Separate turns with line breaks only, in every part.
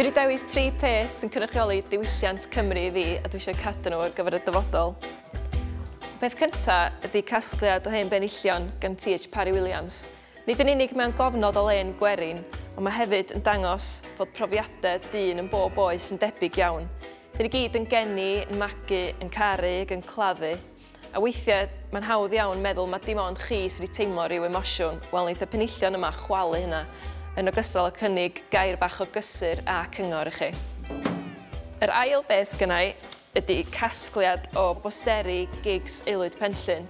Dwi wedi dewis tri peth sy'n cynrychioli diwylliant Cymru i fi a dwi eisiau cadw nhw ar gyfer y dyfodol. Y peth cyntaf ydy casgliad o hen benillion gan TH Parry Williams. Nid yn unig mewn gofnod o len gwerin, ond mae hefyd yn dangos fod profiadau dyn yn bob oes yn debyg iawn. Dyn ni gyd yn geni, yn magu, yn caru ac yn claddu. A weithiau, mae'n hawdd iawn meddwl mae dim ond chi sydd wedi teimlo rhyw emosiwn. Wel, wneith y penillion yma chwalu hynna, yn ogystal â cynnig gair bach o gysur a cyngor i chi. Yr ail beth sgynna i ydy casgliad o bosteri gigs Aelwyd Penllyn.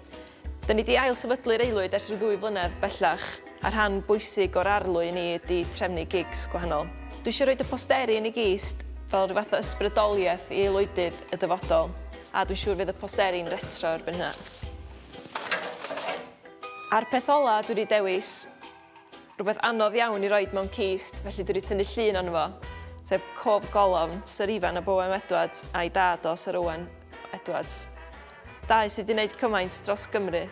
Da ni di ail sefydlu'r Aelwyd ers rhyw ddwy flynedd bellach, a rhan bwysig o'r arlwy ni ydy trefnu gigs gwahanol. Dwi eisiau rhoi y posteri yn ei gist fel rhyw fath o ysbrydoliaeth i aelwydydd y dyfodol. A dwi'n siŵr fydd y posteri'n retro erbyn hynna. A'r peth ola dwi wedi dewis, rhywbeth anodd iawn i roed mewn cist, felly dwi wedi tynnu llun ond fo, sef cof golofn Sir Ifan o Bowen Edwards a'i dad o Sir Owen Edwards. Dau sydd wedi gwneud cymaint dros Gymru.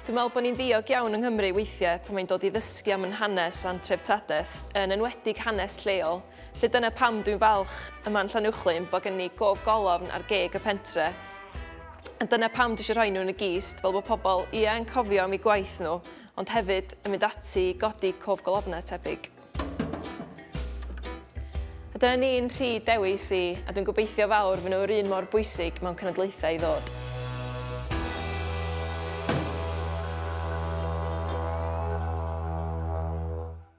Dwi'n meddwl bod ni'n ddiog iawn yng Nghymru weithiau pan mae'n dod i ddysgu am yn hanes a'n treftadaeth, yn enwedig hanes lleol, Felly dyna pam dwi'n falch yma yn Llanuwchllyn bod gen ni gof golofn ar geg y pentre. A dyna pam dwi eisiau rhoi nhw yn y gist fel bod pobl ia yn cofio am eu gwaith nhw ond hefyd yn mynd ati i godi cof golofnau tebyg. A dyna ni'n rhy dewis i a dwi'n gobeithio fawr fy nhw'r un mor bwysig mewn cenedlaethau i ddod.